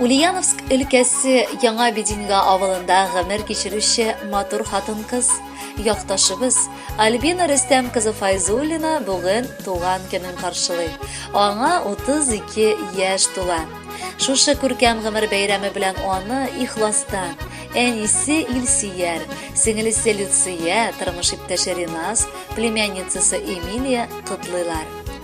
Ульяновск өлкәсе Яңа Бединга авылында гомер кичерүче матур хатын-кыз, якташыбыз Альбина Рөстәм кызы Файзуллина бүген туган көнен каршылый. Аңа 32 яшь тула. Шушы күркәм гомер бәйрәме белән аны ихластан, әнисе Илсияр, сеңелесе Люция, тормыш иптәше Ринас, племянницасы Эмилия котлыйлар.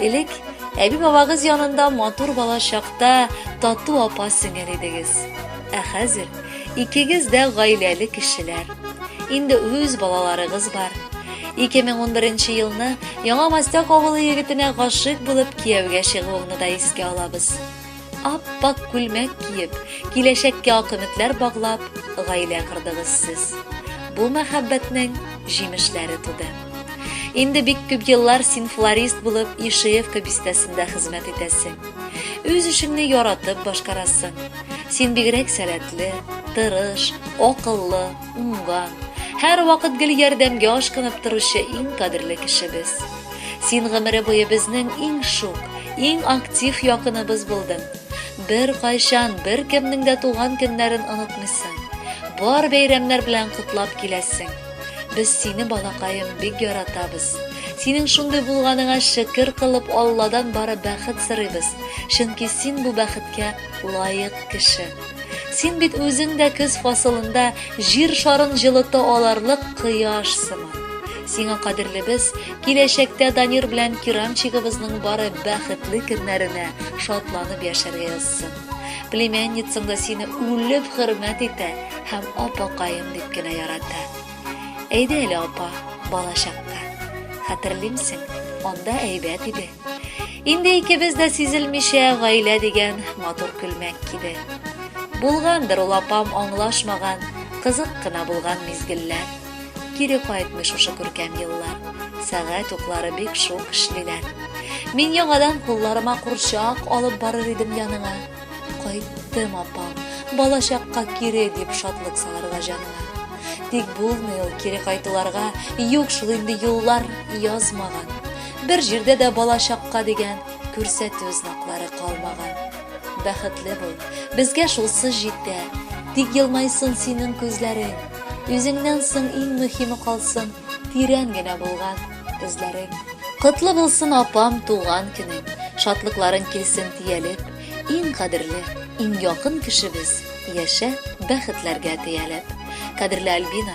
Элек әби бабагыз янында матур бала чакта тату апа сеңел идегез. Ә хәзер икегез дә гаиләле кешеләр. Инде үз балаларыгыз бар. 2011 елны Яңа Мастяк авылы егетенә гашык булып кияүгә чыгуыңны да искә алабыз. Ап-пак күлмәк киеп, киләчәккә ак өметләр баглап, гаилә кордыгыз сез. Бу мәхәббәтнең җимешләре туды. Инде бик күп еллар син флорист булып Ишеевка бистәсендә хезмәт итәсең. Үз эшеңне яратып башкарасың. Син бигрәк сәләтле, тырыш, акыллы, уңган, һәрвакыт гел ярдәмгә ашкынып торучы иң кадерле кешебез. Син гомере буе безнең иң шук, иң актив якыныбыз булдың. Бер кайчан бер кемнең дә туган көннәрен онытмыйсың. Бар бәйрәмнәр белән котлап киләсең. Без сине балакаем бик яратабыз. Синең шундый булганыңа шөкер кылып Алладан бары бәхет сорыйбыз, чөнки син бу бәхеткә лаек кеше. Син бит үзең дә көз фасылында җир шарын җылыта аларлык кояш сыман. Сиңа кадерлебез, киләчәктә Данир белән Киранчигыбызның бары бәхетле көннәренә шатланып яшәргә язсын. Племянницаң да сине үлеп хөрмәт итә һәм апакаем дип кенә ярата. Әйдә әле, апа, балачакка. Хәтерлимсең, анда әйбәт иде. Инде икебез дә сизелмичә гаилә дигән матур күлмәк киде. Булгандыр ул апам аңлашмаган, кызык кына булган мизгелләр. Кире кайтмый шушы күркәм еллар. Сәгать уклары бик шук эшлиләр. Мин яңадан кулларыма курчак алып барыр идем яныңа. Кайттым, апам, балачакка кире дип шатлык салырга җаныңа. Тик булмый ул кире кайтуларга, юк шул инде юллар язмаган. Бер җирдә дә балачакка дигән күрсәтү знаклары калмаган. Бәхетле бул, безгә шулсы җитә, тик елмайсын синең күзләрең, үзеңнән соң иң мөһиме калсын тирән генә булган эзләрең. Котлы булсын, апам, туган көнең, шатлыкларың килсен тиялеп, иң кадерле, иң якын кешебез, яшә, бәхетләргә теялеп. Кадерле Альбина!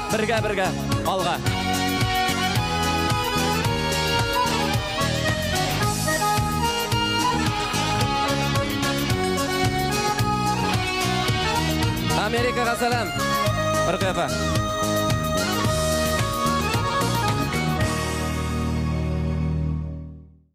Бергә бергә алга. Америкага сәлам. Ркфа.